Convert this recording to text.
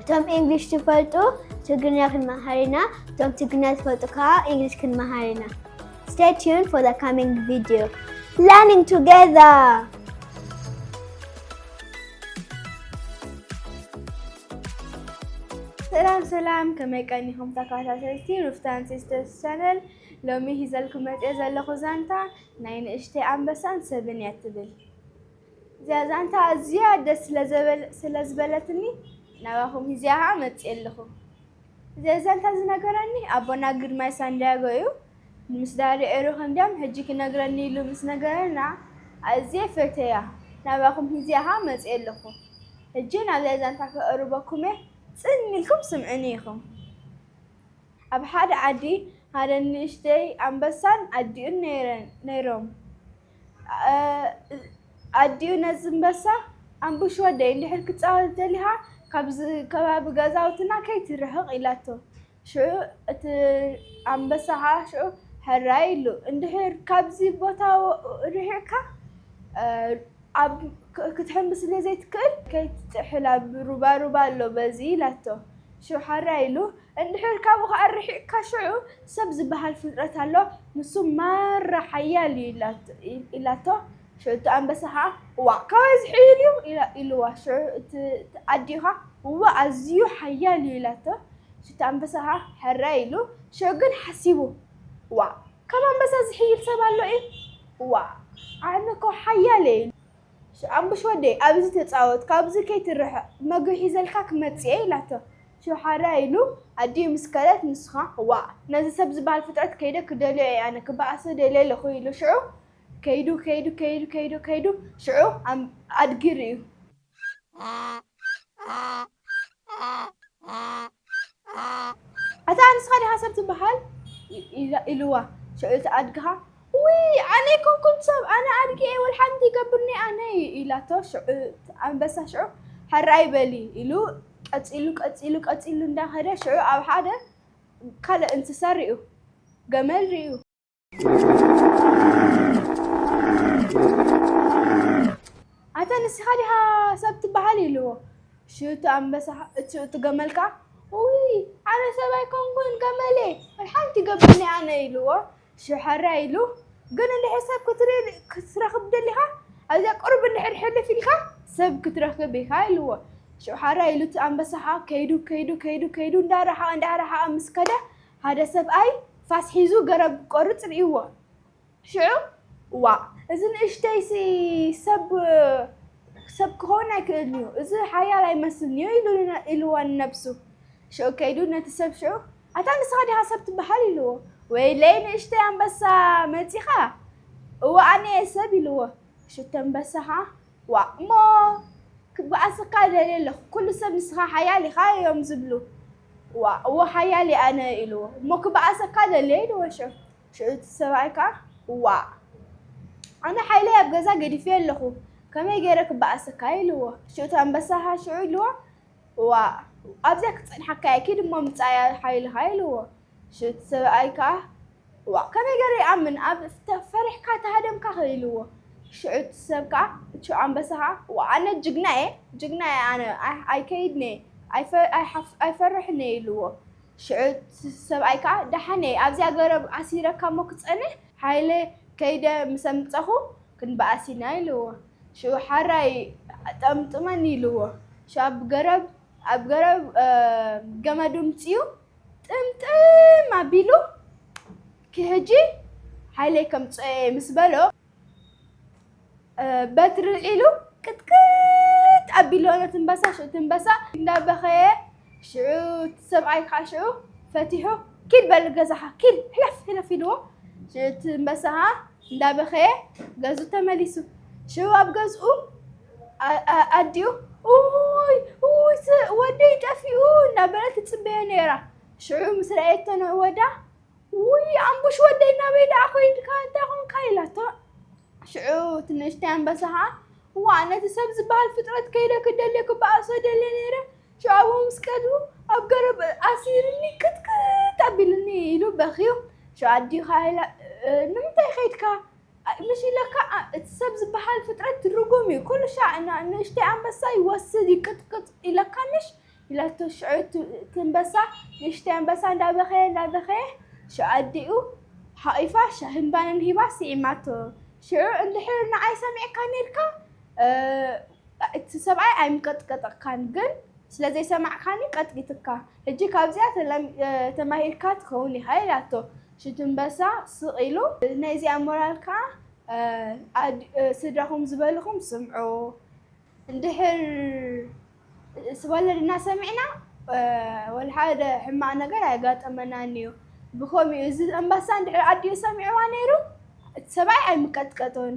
እቶም ኢንግሊሽ ትፈልጡ ትግርኛ ክንመሃር ኢና እቶም ትግርኛ ትፈልጡ ከዓ ኢንግሊሽ ክንመሃር ኢና Stay tuned for the coming video. Learning together! ሰላም ሰላም ከመይ ቀኒኹም ተከታተልቲ ሩፍታን ሲስተርስ ቻነል ሎሚ ሂዘልኩም መፅኦ ዘለኹ ዛንታ ናይ ንእሽተይ ኣንበሳን ሰብን እያ ትብል እዚኣ ዛንታ ኣዝያ ደስ ስለ ዘበል ስለ ዝበለትኒ ናባኹም ሂዚኣ ኸኣ መጺኤ ኣለኹ። እዚ ዛንታ ዝነገረኒ ኣቦና ግርማይ ሳንድያጎ እዩ። ምስ ዳዲ ዒሩ ከም ድያም ሕጂ ክነግረኒ ኢሉ ምስ ነገረና ኣዝየ ፈቴያ ናባኹም ሂዚኣ ኸኣ መጺኤ ኣለኹ። ሕጂ ናብዛ ዛንታ ከቕርበኩም እየ ጽን ኢልኩም ስምዑኒ ኢኹም። ኣብ ሓደ ዓዲ ሓደ ንእሽተይ ኣንበሳን ኣዲኡን ነይረን ነይሮም። ኣዲኡ ነዝምበሳ ኣምቡሽ ወደይ እንድሕር ክፃወት ደሊኻ ካብዚ ከባቢ ገዛውትና ከይትርሕቕ ኢላቶ። ሽዑ እቲ ኣምበሳ ከዓ ሽዑ ሕራይ ኢሉ እንድሕር ካብዚ ቦታ ርሒቕካ ክትሕምብስ ስለዘይትክእል ከይትጥሕል ኣብ ሩባ ሩባ ኣሎ በዚ ኢላቶ። ሽዑ ሕራይ ኢሉ። እንድሕር ካብኡ ከኣ ርሒቕካ ሽዑ ሰብ ዝበሃል ፍጥረት ኣሎ ንሱ ማራ ሓያል እዩ ኢላቶ ሽዑ እቲ ኣንበሳ ከኣ እዋእ ካባይ ዝሕይል እዩ ኢልዋ ሽዑ እቲ ኣዲኡ ከኣ እዋእ ኣዝዩ ሓያል እዩ ኢላቶ ሽዑ እቲ ኣንበሳ ከኣ ሕራይ ኢሉ ሽዑ ግን ሓሲቡ እዋእ ካብ ኣንበሳ ዝሕይል ሰብ ኣሎ ኢዩ እዋእ ኣነ እኮ ሓያል እየ ኢሉ ኣቡሽ ወደይ ኣብዚ ተጻወት ካብዚ ከይትርሕቕ መግቢ ሒዘልካ ክመጽእየ ኢላቶ ሽውሓራይ ኢሉ ኣዲኡ ምስ ከደት ንስኻ ዋእ ነዚ ሰብ ዝበሃል ፍጥረት ከይደ ክደልዮ እየ ኣነ ክበኣሶ ደልየ ኣለኹ ኢሉ ሽዑ ከይዱ ከይዱ ከይዱ ከይዱ ከይዱ ሽዑ ኣድጊ ርእዩ። ኣታ ንስኻ ዲኻ ሰብ ትበሃል ኢልዋ እቲ ኣድግኻ ውይ ኣነ ኮንኩም ሰብ ኣነ ኣድጊ እየ ወልሓንቲ ይገብርኒ ኣነ ኢላቶ ሽዑ ኣንበሳ ሽዑ ሀራይ በሊ ኢሉ ቀፂሉ ቀፂሉ ቀፂሉ እንዳኸደ ሽዑ ኣብ ሓደ ካልእ እንስሳ ሪኡ ገመል ሪኡ ኣታ ንስኻ ዲኻ ሰብ ትበሃል ኢልዎ ሽቱ ኣንበሳ እቱ እቲ ገመል ከዓ ውይ ኣነ ሰብ ኣይኮንኩን ገመሌ ሓንቲ ገብኒ ኣነ ኢልዎ ሽሐራ ኢሉ ግን እንድሕር ሰብ ክትሪ- ክትረኽብ ደሊኻ ኣብዚያ ቅርብ እንድሕር ሕልፍ ኢልካ ሰብ ክትረኽብ ኢኻ ኢልዎ ሽሐራ ኢሉ እቲ ኣንበሳ ከዓ ከይዱ ከይዱ ከይዱ ከይዱ እንዳረሓቐ እንዳረሓቐ ምስ ከደ ሓደ ሰብኣይ ፋስ ሒዙ ገረብ ክቆርጽ ርእይዎ። ሽዑ፣ ዋእ! እዚ ንእሽተይሲ ሰብ ሰብ ክኸውን ኣይክእልን'ዩ፣ እዚ ሓያል ኣይመስልን'ዩ ኢሉዋ ንነብሱ። ሽዑ ከይዱ ነቲ ሰብ ሽዑ፣ ኣታ ንስኻ ዲኻ ሰብ ትበሃል? ኢሉዎ። ወይለይ ንእሽተይ ኣንበሳ መጺኻ? እወ ኣነ'የ ሰብ ኢሉዎ። ሽቶ'ምበሳ ኸኣ፣ ዋእ እሞ ክበኣሰካ ደልየ ኣለኹ ኩሉ ሰብ ንስኻ ሓያል ኢኻ እዮም ዝብሉ ዋእ እወ ሓያል እየ ኣነ ኢልዎ እሞ ክበኣሰካ ደልየ ኢልዎ ሽዑ ሽዑ እቲ ሰብኣይ ከዓ ዋእ ኣነ ሓይለይ ኣብ ገዛ ገዲፌ ኣለኹ ከመይ ገይረ ክበኣሰካ ኢልዎ ሽዑ እቲ ኣንበሳ ከዓ ሽዑ ኢልዎ ዋእ ኣብዚኣ ክትፀንሓካ እየ ኪድ እሞ ምፃእያ ሓይልኻ ኢልዎ ሽው እቲ ሰብኣይ ከኣ ዋእ ከመይ ገሩ ይኣምን ኣብ ተፈሪሕካ ተሃደምካ ከ ኢልዎ ሽዑ እቲ ሰብ ከኣ ሽዑ ኣንበሳ ከኣ ዋእ ኣነ ጅግና እየ ጅግና እየ ኣነ ኣይከይድን እየ ኣይፈርሕን እየ ኢልዎ ሽዑ እቲ ሰብኣይ ከኣ ደሓን እየ ኣብዚኣ ገረብ ኣሲረካ እሞ ክጸንሕ ሃይለ ከይደ ምስ ኣምጸኹ ክንበኣስ ኢና ኢልዎ ሽዑ ሓራይ ጠምጥመኒ ኢልዎ ሽዑ ኣብ ገረብ ኣብ ገረብ ገመዱ ኣምጺኡ ጥምጥም ኣቢሉ ኪሕጂ ሓይለይ ከምፅኦየ ምስ በሎ በትሪ ዒሉ ቅጥቅጥ ኣቢሎ ነቲ እምበሳ ሽዑ እቲ እምበሳ እንዳበኸየ ሽዑ እቲ ሰብኣይ ከዓ ሽዑ ፈቲሑ ኪድ በል ገዛኻ ኪድ ሕለፍ ሕለፍ ኢልዎ ሽዑ እቲ እምበሳ ከዓ እንዳበኸየ ገዝኡ ተመሊሱ ሽዑ ኣብ ገዝኡ ኣዲኡ ኡይ ኡይ ወደይ ጠፊኡ እናበለት ትፅበዮ ነይራ ሽዑ ምስ ረኣየቶ ንዕወዳ ውይ ኣምቡሽ ወደይ ናበይ ደኣ ኮይንካ እንታይ ኮንካ ኢላቶ ሽዑ ትንእሽተይ ኣንበሳ ከዓ እዋ ነቲ ሰብ ዝበሃል ፍጥረት ከይደ ክደልዮ ክበኣሶ ደልየ ነይረ ሽዑ ኣብኡ ምስ ቀዱ ኣብ ገረብ ኣሲርኒ ክትክት ኣቢልኒ ኢሉ በኽዩ ሽዑ ኣዲኻ ኢላ "እ፣ ንምንታይ ከይድካ ምሽ ኢለካ እቲ ሰብ ዝበሃል ፍጥረት ትርጉም እዩ ኩሉ ሻዕ እና ንእሽተይ ኣንበሳ ይወስድ ይቅጥቅጥ ኢለካ ምሽ ኢላቶ ሽዑ እቲ እንበሳ ንእሽተይ ኣንበሳ እንዳበኸየ እንዳበኸየ ሽዑ ኣዲኡ ሓቂፋ ሻሂን ባንን ሂባ ስዒማቶ ሽዑ እንድሕር ንዓይ ሰሚዕካ ነይርካ እቲ ሰብኣይ ኣይምቀጥቀጠካን ግን ስለ ዘይሰማዕካኒ ቀጥቂትካ ሕጂ ካብዚኣ ተማሂርካ ትኸውን ኢኻ ኢላቶ ሽዱንበሳ ስቅ ኢሉ ናይ እዚኣ ሞራል ካኣ ስድራኩም ዝበልኩም ስምዑ እንድሕር ስወለድና ሰሚዕና ወልሓደ ሕማቅ ነገር ኣየጋጠመናን እዩ ብከምኡ እዚ ኣንበሳ እንድሕር ኣዲኡ ሰሚዕዋ ነይሩ እቲ ሰብኣይ ኣይምቀጥቀጦን።